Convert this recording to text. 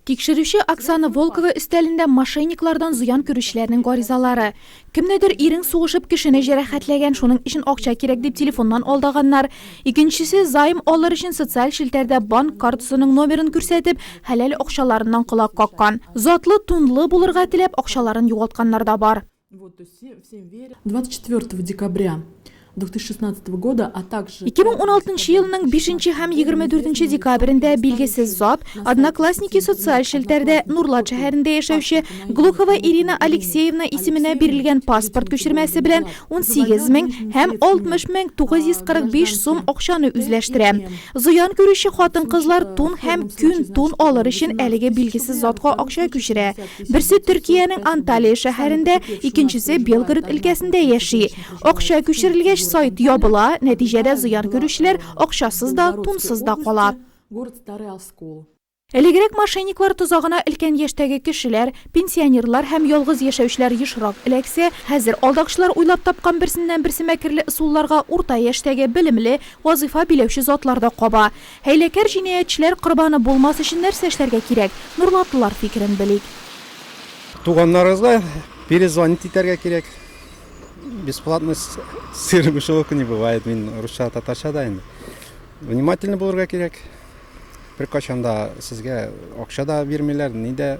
Тикшерүче Оксана Волкова өстәлендә мошенниклардан зыян күрүчеләрнең гаризалары. Кемнедер ирең сугышып кешене җәрәхәтләгән, шуның өчен акча кирәк дип телефоннан алдаганнар. Икенчесе займ алыр өчен социаль челтәрдә банк картасының номерын күрсәтеп, хәләл акчаларыннан колак каккан. Затлы, тунлы булырга теләп, акчаларын югалтканнар да бар. Вот, то есть все, всем верят. 24 декабря 2016 года, а также... 2016 елның 5 һәм 24 декабрендә билгесез зат, одноклассники социаль шелтәрдә Нурлат шәһәрендә яшәүче Глухова Ирина Алексеевна исеменә бирелгән паспорт күчермәсе белән 18 мең һәм 60 мең 945 сум акчаны үзләштерә. Зыян күрүче хатын-кызлар тун һәм күн тун алыр өчен әлеге билгесез затка акча күчерә. Берсе Төркиянең Анталия шәһәрендә, икенчесе Белгород өлкәсендә яши. Акча күчерелгәч, сайт ябыла, нәтиҗәдә зыян күрүчеләр акчасыз да, тунсыз да кала. Элегрәк мошенниклар тозагына өлкән яшьтәге кешеләр, пенсионерлар һәм ялгыз яшәүчеләр ешрак эләксә, хәзер алдакчылар уйлап тапкан берсеннән-берсе мәкерле ысулларга урта яшьтәге, белемле, вазыйфа биләүче затлар да каба. Хәйләкәр җинаятьчеләр корбаны булмас өчен нәрсә эшләргә кирәк? Нурлатлылар фикерен белик. Туганнарыгызга перезвонить итәргә кирәк. Бесплатно сыр мышеловка не бывает. Мин русча, татарча да инде. Внимательно булырга кирәк. Беркайчан да сезгә акча да бирмиләр, ни дә.